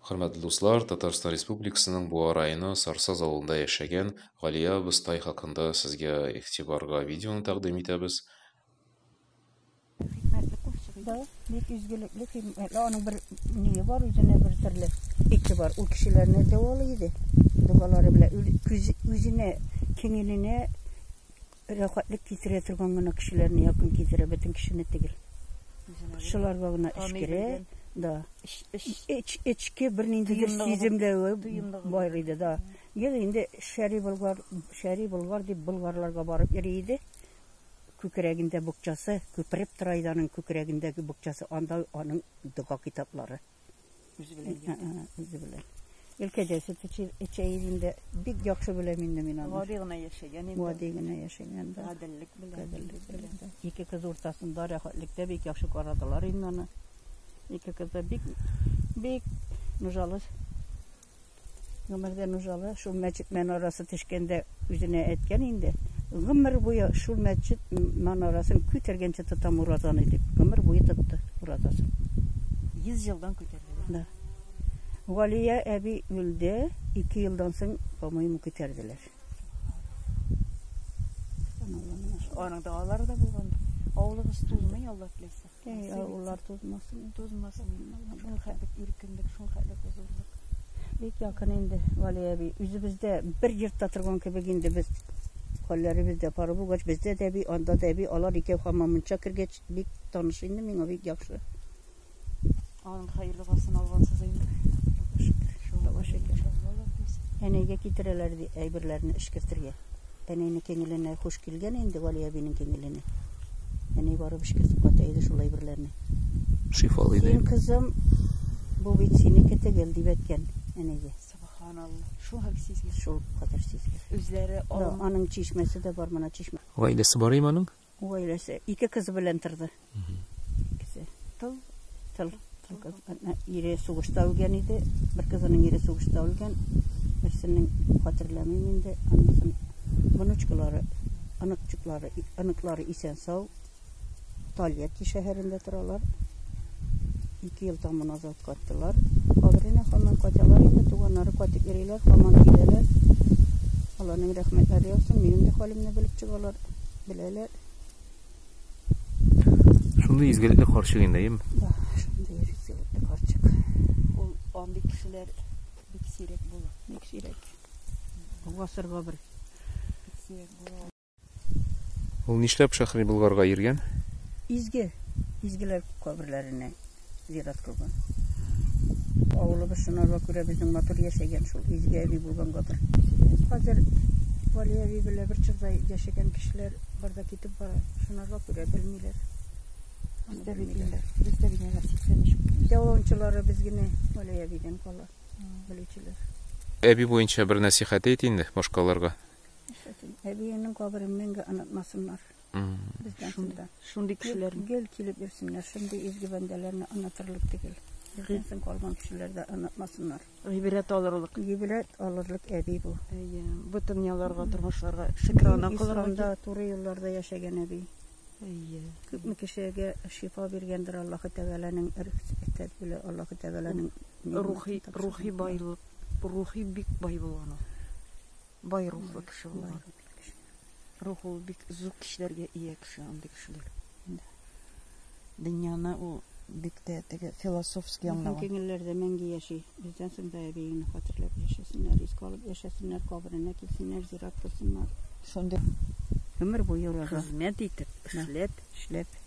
Хөрмәтле дуслар, Татарстан Республикасының Буа районы Сарсаз авылында яшәгән Галия абыстай хакында сезгә игътибарга видеоны тәкъдим итәбез. Хикмәтле кошчык иде. Бик изгелекле, хикмәтле, аның бер ние бар, үзенә бер төрле ите бар. Ул кешеләрне дәвалый иде. Догалары белән үзенә, киңеленә Рәхәтлек китерә торган гына кешеләрне якын китерә, бөтен кешене түгел. Шуларга гына эш керә, да. Эчке бер ниндидер сиземләве бар иде, да. Ел инде шәри болгар, шәри болгар дип болгарларга барып йөри иде. Күкрәгендә букчасы, күпереп тора иде аның күкрәгендәге букчасы, анда аның дога китаплары. Үзе белән йөрде. Ә, ә, Үзе белән. Өлкәҗәсе Чәйил инде бик яхшы беләм инде мин аны. Гади генә яшәгән инде. Гади генә яшәгән дә. Гаделлек белән. Гаделлек белән. дә. Ике кыз уртасында рәхәтлектә бик яхшы карадылар инде аны. Ике кыз да бик бик нужалы Гомердән узалы шул мәчет манарасы төшкәндә үзенә әйткән инде. Гомер буе шул мәчет манарасын күтәргәнче тотам уразаны дип. Гомер буе тотты уразасын. 100 елдан күтәрде. Да. Галия әби үлде, 2 елдан соң, по-моему, күтәрделәр. Аның да алар да булган. Авылыгыз тулмый, Алла теләсә. Әй, авыллар тузмасын. Тузмасын. Шул хәтлек иркенлек, шул хәтлек хозурлык. Бик якын инде, Вали әби. Үзебездә бер йортта торган кебек инде без хәлләребез дә пары булгач, бездә дә әби, анда да әби, алар икәү хамамынча кергәч, бик таныш инде миңа, бик яхшы. Аның хәерле гасын алгансыз инде. Шулла шәкер. Әнәйгә китерәләр ди әйберләрне эшкертергә. Әнәйне кеңеленә хуш килгән инде Гали әбинең кеңеленә. Әнәй барып эшкертеп ката иде шул әйберләрне. Шифалы иде. Син кызым, бу бит синеке тегел дип әйткән әнәйгә. Субханалла. Шул хәл сизгән. Шул кадәр сизгән. Үзләре алып. Аның чишмәсе дә бар, моны чишмә. Гаиләсе бар иманың? Гаиләсе ике кызы белән торды. Икесе тол, тол, тол кыз. Әтнә Ире сугышта үлгән иде. Бер кызының ире сугышта үлгән. Берсенең хәтерләмим инде. Анысын внучкалары, оныкчыклары, и- оныклары исән сау. Тольятти шәһәрендә торалар. Ике ел тәмам назад Кайталар. Алар инде һаман кайталар инде, туганнары кайтып йөриләр, һаман киләләр. Аларның рәхмәтләре яусын, минем дә хәлемне белеп чыгалар, беләләр. Шундый изгелекле карчык инде, әйеме? Да, шундый изгелекле карчык. Ул андый кешеләр бик сирәк була. Бик сирәк. Гасырга бер. Бик сирәк була. Ул нишләп Шәхри Болгарга йөргән? Изге, изгеләр каберләренә зират кылган. Авылыбыз шунарга күрә безнең матур яшәгән шул изге әби булгангадыр. Хәзер Вали әби белә бер чакта яшәгән кешеләр барда китеп бара. Шунарга күрә белмиләр. Аны Бездә бит белмиләр. инде, бездә бит инде 83 күп. Яулаучылары без генә Вали әбидән кала белүчеләр. Әби буенча бер нәсыйхәт әйт инде башкаларга. Әбиеңнең каберен мәңге онытмасыннар. Бездән шунда. Шундый кешеләр. Гел килеп йөрсеннәр. Шундый изге бәндәләрне онытырлык түгел. Бездән соң калган кешеләр дә онытмасыннар. Гыйбрәт алырлык. Гыйбрәт алырлык әби бу. Әйе. Бу дөньяларга, тормышларга шөкранә кылырга. Исламда туры юлларда яшәгән әби. Әйе. Күпме кешегә шифа биргәндер Аллаһы Тәгаләнең рөхсәте белән Аллаһы Тәгаләнең рухи рухи байлык, рухи бик бай булган ул. Бай рухлы кеше булган. Рух ул бик зур кешеләргә ия кеше, андый кешеләр. Дөньяны ул бик тә теге философский аңлаган. Кеңелләрдә мәңге яши. Бездән соң да әбиеңне хәтерләп яшәсеннәр, искә алып яшәсеннәр, каберенә килсеннәр, зират кылсыннар. Шундый гомер буе уларга хезмәт итеп, эшләп, эшләп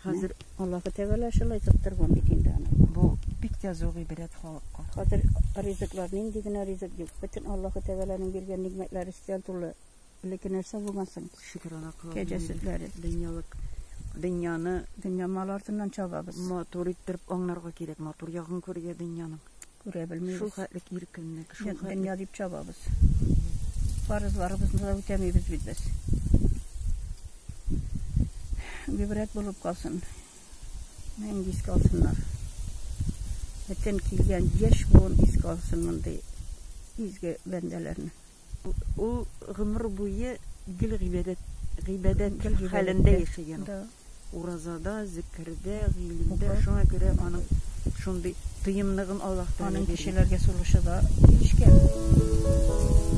Хәзер Аллаһы Тәгалә шулай тоттырган бит инде аны. Бу бик тә зур гыйбрәт халыкка. Хәзер ризыклар нинди генә ризык юк. Бөтен Аллаһы Тәгаләнең биргән нигъмәтләре өстәл тулы. Элекке нәрсә булган соң. Шөкерана кылабыз. Кәҗә сөтләре. Дөньялык дөньяны дөнья мал артыннан чабабыз. Матур иттереп аңнарга кирәк, матур ягын күрергә дөньяның. Күрә белмибез. Шул хәтлек иркенлек, шул хәтлек. Дөнья дип чабабыз. Фарызларыбызны да үтәмибез бит без. Гибрәт булып калсын. Мәңге искә алсыннар. Бөтен килгән яшь буын искә алсын мондый изге бәндәләрне. Ул гомер буе гел гыйбадәт гыйбадәт хәлендә яшәгән. Да. Уразада, зикердә, гыйлемдә, шуңа күрә аның шундый тыйымлыгын Аллаһ Тәгалә Аның кешеләргә сулышы да килешкән.